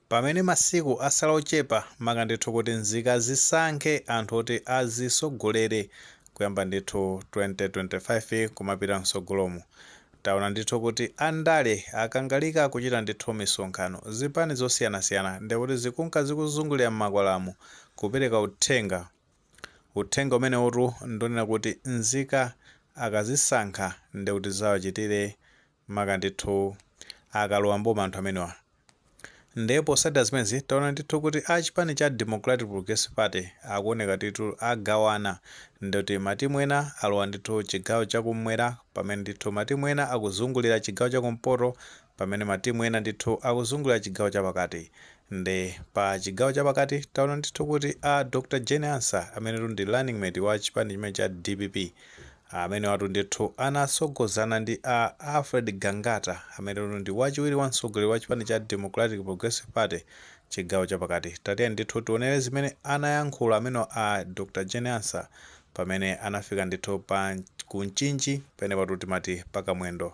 Pamene masiku asala ochepa maka ndithu kuti nzika zisankhe anthu oti azisogolere kuyamba ndithu 2025 kumapita msogolomu, taona ndithu kuti andale akangalika kuchita ndithu misonkhano, zipani zosiyanasiyana ndikuti zikunka zikuzungulira mmakwalamu kupereka uthenga, uthenga umenewotu ndi onena kuti nzika akazisankha ndikuti zizawachitire maka ndithu akalowa m'boma anthu amenewa nde potsatira zimenezi taona ndithu kuti a chipani cha Democratic Progressive Party akuoneka ndithu agawana ndikuti matimu ena alowa ndithu chigawo chakum'mwera pamene ndithu matimu ena akuzungulira chigawo chakumpoto pamene matimu ena ndithu akuzungulira chigawo chapakati nde pa chigawo chapakati taona ndithu kuti a Dr Jane Ansah amene ndi running mate wa chipani chimene cha DPP Amenewatu ndithu anatsogozana ndi a Alfred Gangata amenetu ndi wachiwiri wa mtsogoleri wa chipani cha Democratic Progressive Party chigawo chapakati. Tatiyeni ndithu tionere zimene anayankhula amenewa a Dr Jane Ansah pamene anafika ndithu pa ku Mchinji penepatu timati pa Kamwendo.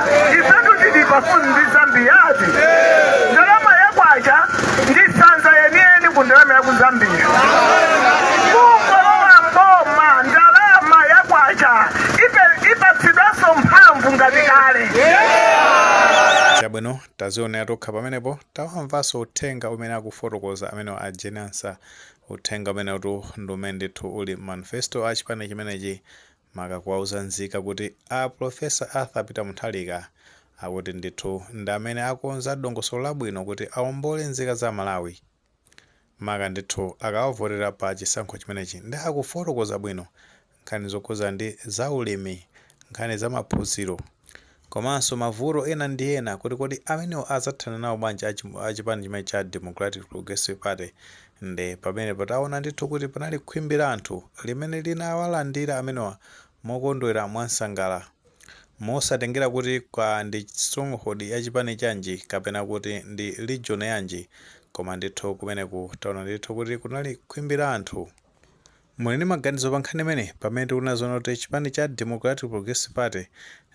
ifetu tili pafupi ndi Zambiyatu ndalama yakwacha ndi sanza yeniyeni ku ndalama ya ku Zambia kungolowa mboma ndalama yakwacha ipe- ipatsidwanso mphamvu ngati kale chabwino tazionera tokha pamenepo tawamvanso uthenga umene akufotokoza amenewa a Jane Ansah uthenga umenewutu ndi umene ndithu uli manifesto a chipani chimenechi maka kuwauza nzika kuti a Prof. Arthur Peter Mutharika akuti ndithu ndi amene akonza dongosolo labwino kuti aombole nzika za Malawi maka ndithu akawavotera pa chisankho chimenechi nde akufotokoza bwino nkhani zokhuza ndi za ulimi, nkhani za maphunziro. komanso mavuto ena ndi ena kuti kodi amenewa adzathana nawo bwanji a chi- a chipani chimene cha Democratic Progressive Party nde pamenepo taona ndithu kuti panali khwimbi la anthu limene linawalandira amenewa mokondwera mwamsangala mosatengera kuti kwa ndi stronghold ya chipani chanji kapena kuti ndi region yanji koma ndithu kumeneku taona ndithu kuti kunali khwimbi la anthu Muli ndi maganizo pa nkhani imeneyi? Pamene tikuona zoona kuti chipani cha Democratic Progressive Party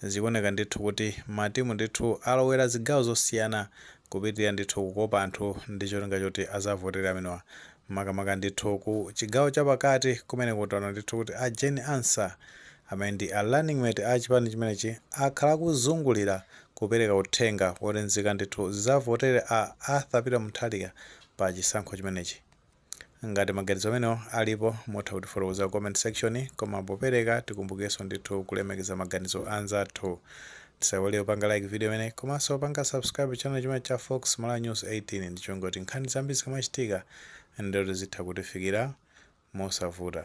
zikuoneka ndithu kuti matimu ndithu alowera zigawo zosiyana kupitilira ndithu kukopa anthu ndi cholinga choti azavotere amenewa makamaka ndithu ku chigawo cha pakati kumeneko taona ndithu kuti a Jane Ansah amene ndi a running mate a chipani chimenechi akhala akuzungulira kupereka uthenga woti nzika ndithu zizavotere a Arthur Peter Mutharika pa chisankho chimenechi. Ngati maganizo amenewo alipo mutha kutifotokozera ku comment section koma popereka tikumbukenso ndithu kulemekeza maganizo anzathu. Tisaiwale kupanga like video imeneyi komanso kupanga subscribe channel chimenechi cha Fox Malawi News 18 ndi cholinga choti nkhani zambiri zikamachitika ndithu zitha kutifikira mosavuta.